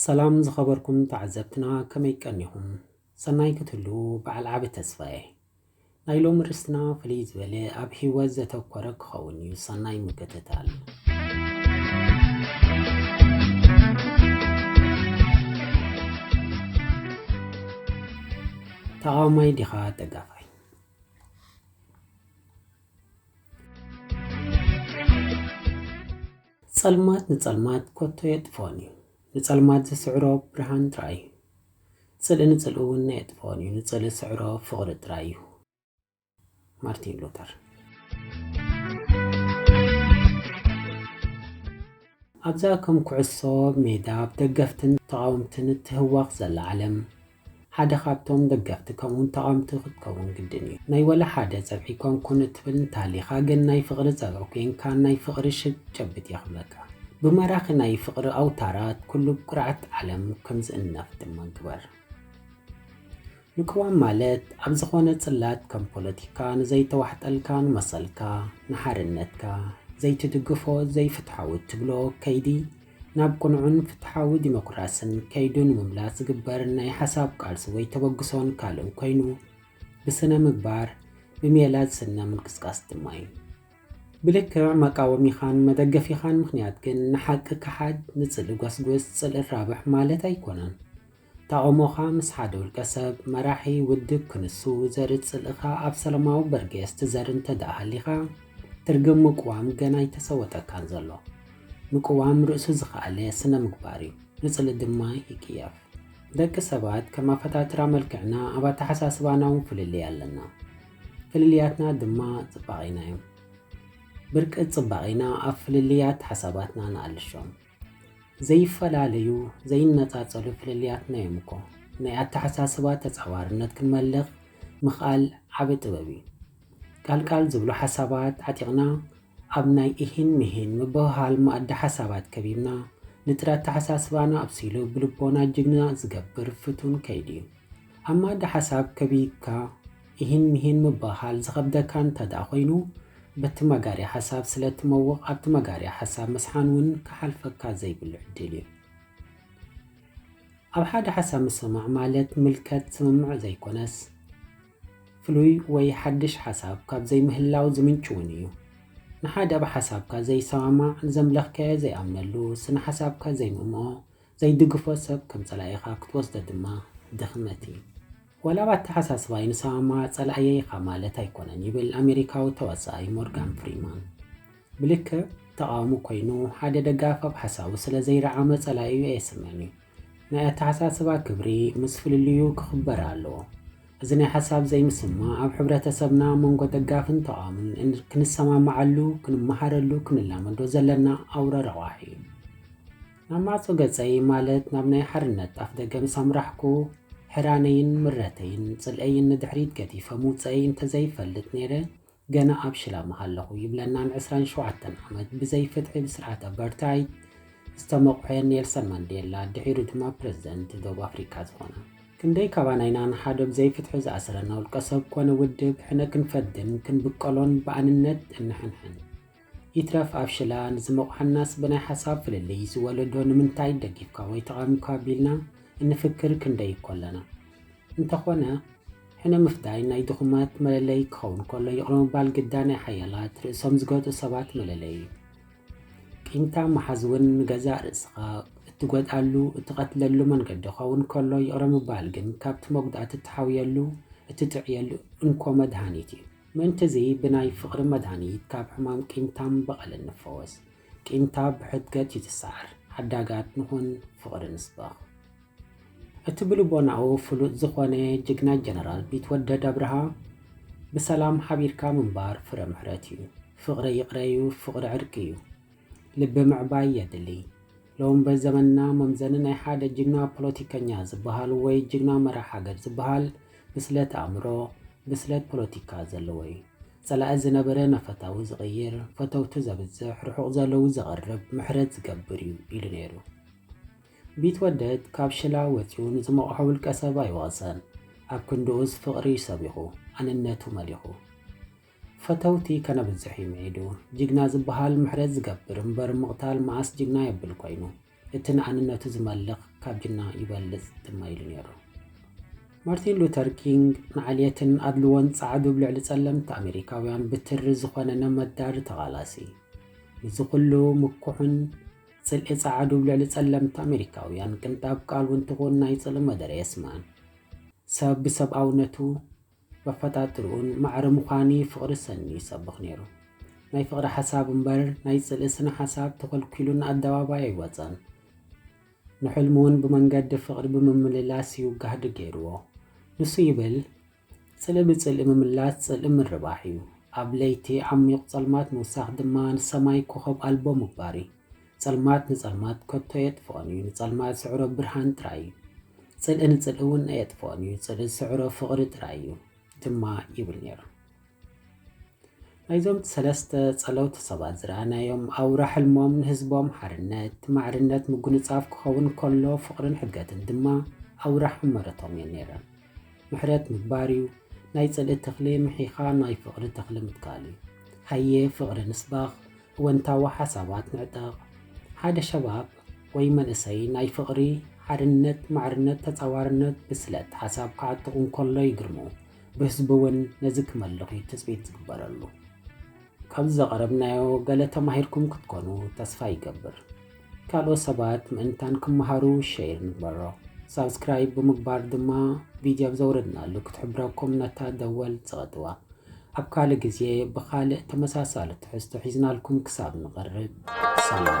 ሰላም ዝኸበርኩም ተዓዘብትና ከመይ ቀኒኹም? ሰናይ ክትህሉ በዓል ዓቢ ተስፋየ ናይ ሎሚ ርስትና ፍልይ ዝበለ ኣብ ህይወት ዘተኮረ ክኸውን እዩ። ሰናይ ምክትታል። ተቓዋማይ ዲኻ ደጋፋይ? ጸልማት ንጸልማት ኮቶ የጥፍኦን እዩ፣ ንጸልማት ዝስዕሮ ብርሃን ጥራይ እዩ። ጽልኢ ንጽልኢ እውን ኣየጥፍኦን እዩ፣ ንጽልኢ ዝስዕሮ ፍቕሪ ጥራይ እዩ። ማርቲን ሉተር። ኣብዛ ከም ኩዕሶ ሜዳ ብ ደገፍትን ተቓወምትን እትህዋኽ ዘላ ዓለም፣ ሓደ ካብቶም ደገፍቲ ከምኡውን ተቓወምቲ ክትከውን ግድን እዩ። ናይ ወላ ሓደ ጸብሒ ኮንኩን እትብል እንተሃሊኻ ግን ናይ ፍቕሪ ጸብሒ ኮይንካ ናይ ፍቕሪ ሽግ ጨብጥ እየ ክብለካ። ብማራኺ ናይ ፍቕሪ ኣውታራት ኩሉ ብኩርዓት ዓለም ከም ዝእነፍ ድማ ግበር። ምቅዋም ማለት ኣብ ዝኾነ ጽላት ከም ፖለቲካ ንዘይተዋሕጠልካ ንመሰልካ ንሓርነትካ ዘይትድግፎ ዘይፍትሓዊ እትብሎ ከይዲ ናብ ቅኑዕን ፍትሓዊ ዲሞክራስን ከይዱ ንምምላስ ዝግበር ናይ ሓሳብ ቃልሲ ወይ ተበግሶን ካልእን ኮይኑ ብስነ ምግባር ብሜላ ዝስነ ምንቅስቃስ ድማ እዩ። ብልክዕ መቃወሚኻን መደገፊኻን ምኽንያት ግን ንሓቂ ከሓድ ንጽልኢ ጎስጉስ ጽልኢ ራብሕ ማለት ኣይኮነን። ተቓውሞኻ ምስ ሓደ ውልቀ ሰብ፣ መራሒ፣ ውድብ፣ ክንሱ ዘርኢ ጽልእኻ ኣብ ሰለማዊ በርጌስ ትዘሪ እንተድኣ ሃሊኻ፣ ትርግም ምቅዋም ገና ኣይተሰወጠካን ዘሎ። ምቅዋም ርእሱ ዝኸኣለ ስነ-ምግባር እዩ። ንጽልኢ ድማ ይቅየፍ። ደቂ ሰባት ከም ኣፈጣጥራ መልክዕና ኣብ ኣተሓሳስባና እውን ፍልልይ ኣለና። ፍልልያትና ድማ ጽባቄና እዮም። ብርቂ ጽባቄና ኣብ ፍልልያት ሓሳባትና ንኣልሾም። ዘይፈላለዩ ዘይነፃፀሉ ፍልልያትና እዮም እኮ። ናይ ኣተሓሳስባ ተፃዋርነት ክንመልኽ ምኽኣል ዓቢ ጥበብ እዩ። ቃልቃል ዝብሉ ሓሳባት ዓጢቕና ኣብ ናይ ኢሂን ምሂን ምብህሃል መኣዲ ሓሳባት ከቢብና ንጥረ ኣተሓሳስባና ኣብሲሉ ብልቦና ጅግና ዝገብር ፍቱን ከይዲ እዩ። ኣብ መኣዲ ሓሳብ ከቢብካ ኢሂን ምሂን ምብህሃል ዝኸብደካ እንተድኣ ኮይኑ፣ በቲ መጋርያ ሓሳብ ስለ እትመውቕ ኣብቲ መጋርያ ሓሳብ ምስሓን እውን ክሓልፈካ ዘይብሉ ዕድል እዩ። ኣብ ሓደ ሓሳብ ምስምማዕ ማለት ምልከት ስምምዕ ዘይኮነስ፣ ፍሉይ ወይ ሓድሽ ሓሳብ ካብ ዘይምህላው ዝምንጩ እውን እዩ። ንሓደ ኣብ ሓሳብካ ዘይሰማማዕ፣ ዘምለኽካዮ ዘይኣምነሉ፣ ስነ ሓሳብካ ዘይምእምኦ፣ ዘይድግፎ ሰብ ከም ጸላኢኻ ክትወስዶ ድማ ድኽመት እዩ። ዋላ ብ ኣተሓሳስባይ ንሰማማዕ ጸላእየይ ኢኻ ማለት ኣይኮነን ይብል ኣሜሪካዊ ተዋሳኣይ ሞርጋን ፍሪማን። ብልክዕ ተቓዋሚ ኮይኑ ሓደ ደጋፊ ኣብ ሓሳቡ ስለ ዘይረዓመ ጸላኢኡ ኣየስምዕን እዩ። ናይ ኣተሓሳስባ ክብሪ ምስ ፍልልዩ ክኽበር ኣለዎ። እዚ ናይ ሓሳብ ዘይምስምማዕ ኣብ ሕብረተሰብና ኣብ መንጎ ደጋፍን ተቓዋምን ክንሰማምዓሉ፣ ክንመሃረሉ፣ ክንላመዶ ዘለና ኣውረ ረቋሒ እዩ። ናብ ማዕጾ ገጸይ ማለት ናብ ናይ ሓርነት ኣፍደገ ምስ ኣምራሕኩ፣ ሕራነይን ምረተይን ጽልኤይን ንድሕሪት ገዲፈ ምውጸኣይ እንተዘይፈልጥ ነይረ፣ ገና ኣብ ሽላ ምሃለኹ ይብለና ን ዕስራን ሸውዓተን ዓመት ብዘይፍትሒ ብስርዓት ኣባርታይድ ዝተመቑሐ ኔልሰን ማንዴላ፣ ድሒሩ ድማ ፕረዚደንት ዶብ ኣፍሪቃ ዝኾነ። ክንደይ ካባና ኢና ንሓደ ብዘይፍትሒ ዝኣሰረና ውልቀሰብ ኮነ ውድብ ሕነ ክንፈድን ክንብቀሎን ብኣንነት እንሕንሕን? ይትረፍ ኣብ ሽላ ንዝመቑሓናስ ብናይ ሓሳብ ፍልልይ ዝወለዶ ንምንታይ ደጊፍካ ወይ ተቓዊምካ ቢልና እንፍክር ክንደይ እኮ ኣለና። እንተኾነ ሕነ ምፍዳይ ናይ ድኹማት መለለይ ክኸውን ከሎ ይቕረ ምባል ግዳ ናይ ሓያላት ርእሶም ዝገጡ ሰባት መለለይ እዩ። ቂምታ ምሓዝ እውን ንገዛእ ርእስኻ እትጎድኣሉ እትቐትለሉ መንገዲ ክኸውን ከሎ ይቕረ ምባል ግን ካብቲ መጉዳእቲ እትሓውየሉ እትጥዕየሉ እንኮ መድሃኒት እዩ። ምእንት'ዚ ብናይ ፍቕሪ መድሃኒት ካብ ሕማም ቂምታን በቐልን ንፈወስ። ቂምታ ብሕድገት ይትሳዕር፣ ሓዳጋት ንኹን፣ ፍቕሪ ንስበኽ። እቲ ብልቦናኡ ፍሉጥ ዝኾነ ጅግና ጀነራል ቢትወደድ ኣብርሃ፣ ብሰላም ሓቢርካ ምንባር ፍረ ምሕረት'ዩ፣ ፍቕሪ ይቕረ'ዩ፣ ፍቕሪ ዕርቂ'ዩ። ልቢ ምዕባይ የድሊ ሎሚ በዘመንና መምዘኒ ናይ ሓደ ጅግና ፖለቲከኛ ዝበሃል ወይ ጅግና መራሕ ሃገር ዝበሃል ብስለት ኣእምሮ ብስለት ፖለቲካ ዘለዎ እዩ ጸላኢ ዝነበረ ንፈታዊ ዝቕይር ፈተውቱ ዘብዝሕ ርሑቕ ዘለዉ ዘቕርብ ምሕረት ዝገብር እዩ ኢሉ ነይሩ ቢትወደድ ካብ ሽላ ወጺኡ ንዝመቕሖ ውልቀ ሰብ ኣይወቕሰን ኣብ ክንድኡስ ፍቕሪ ሰቢኹ ኣንነቱ መሊኹ ፈተውቲ ከነብዝሕ እዩ ምዒዱ። ጅግና ዝብሃል ምሕረት ዝገብር እምበር ምቕታል መኣስ ጅግና የብል ኮይኑ። እቲ ንኣንነቱ ዝመልኽ ካብ ጅና ይበልጽ ድማ ኢሉ ነይሩ። ማርቲን ሉተር ኪንግ ንዓልየትን ኣድልዎን ጸዓዱ ብ ልዕሊ ጸለምቲ ኣሜሪካውያን ብትሪ ዝኾነ ነመዳሪ ተቓላሲ። ንዚ ኩሉ ምኩሕን ጽልኢ ጸዓዱ ብ ልዕሊ ጸለምቲ ኣሜሪካውያን ቅንጣብ ቃል ውን ትኹን ናይ ጽልኢ መደረ የስምዕን። ሰብ ብሰብኣውነቱ በፈጣጥርኡን ማዕረ ምዃኒ ፍቕሪ ሰኒ ይሰብኽ ነይሩ። ናይ ፍቕሪ ሓሳብ እምበር ናይ ጽልኢ ስነ ሓሳብ ተኾልኲሉ ንኣደባባይ ኣይወጸን። ንሕልሙውን ብመንገዲ ፍቕሪ ብምምልላስ እዩ ጋህዲ ገይርዎ። ንሱ ይብል፣ ጽልኢ ብጽልኢ ምምላስ ጽልኢ ምርባሕ እዩ። ኣብ ለይቲ ዓሚዩቕ ጸልማት ምውሳኽ ድማ ንሰማይ ኮኾብ ኣልቦ ምግባር እዩ። ጸልማት ንጸልማት ከቶ ኣየጥፍኦን እዩ፣ ንጸልማት ዝስዕሮ ብርሃን ጥራይ እዩ። ጽልኢ ንጽልኢ እውን ኣየጥፍኦን እዩ፣ ጽልኢ ዝስዕሮ ፍቕሪ ጥራይ እዩ ድማ ይብል ነይሩ። ናይዞም ሰለስተ ጸለውቲ ሰባት ዝረኣናዮም ኣውራ ሕልሞም ንህዝቦም ሓርነት፣ ማዕርነት፣ ምጉንጻፍ ክኸውን ከሎ ፍቕርን ሕገትን ድማ ኣውራ ሕመረቶም እየን ነይረን። ምሕረት ምግባር እዩ፣ ናይ ጽልኢ ተኽሊ ምሒኻ ናይ ፍቕሪ ተኽሊ ምትካል እዩ። ሃየ ፍቕሪ ንስበኽ፣ እወንታዊ ሓሳባት ንዕጠቕ። ሓደ ሸባብ ወይ መንእሰይ ናይ ፍቕሪ፣ ሓድነት፣ ማዕርነት፣ ተጻዋርነት፣ ብስለት ሓሳብ ክዓጥቕ እንከሎ ይግርሙ። ብህዝቢ እውን ነዚ ክመልኽ እዩ ትጽቢት ዝግበረሉ። ካብዚ ዘቐረብናዮ ገለ ተማሂርኩም ክትኮኑ ተስፋ ይገብር። ካልኦት ሰባት ምእንታን ክመሃሩ ሸይር ንግበሮ። ሳብስክራይብ ብምግባር ድማ ቪድዮ ኣብ ዘውረድናሉ ክትሕብረኩም ነታ ደወል ጽቐጥዋ። ኣብ ካልእ ግዜ ብኻልእ ተመሳሳሊ ትሕዝቶ ሒዝናልኩም ክሳብ ንቐርብ ሰላም።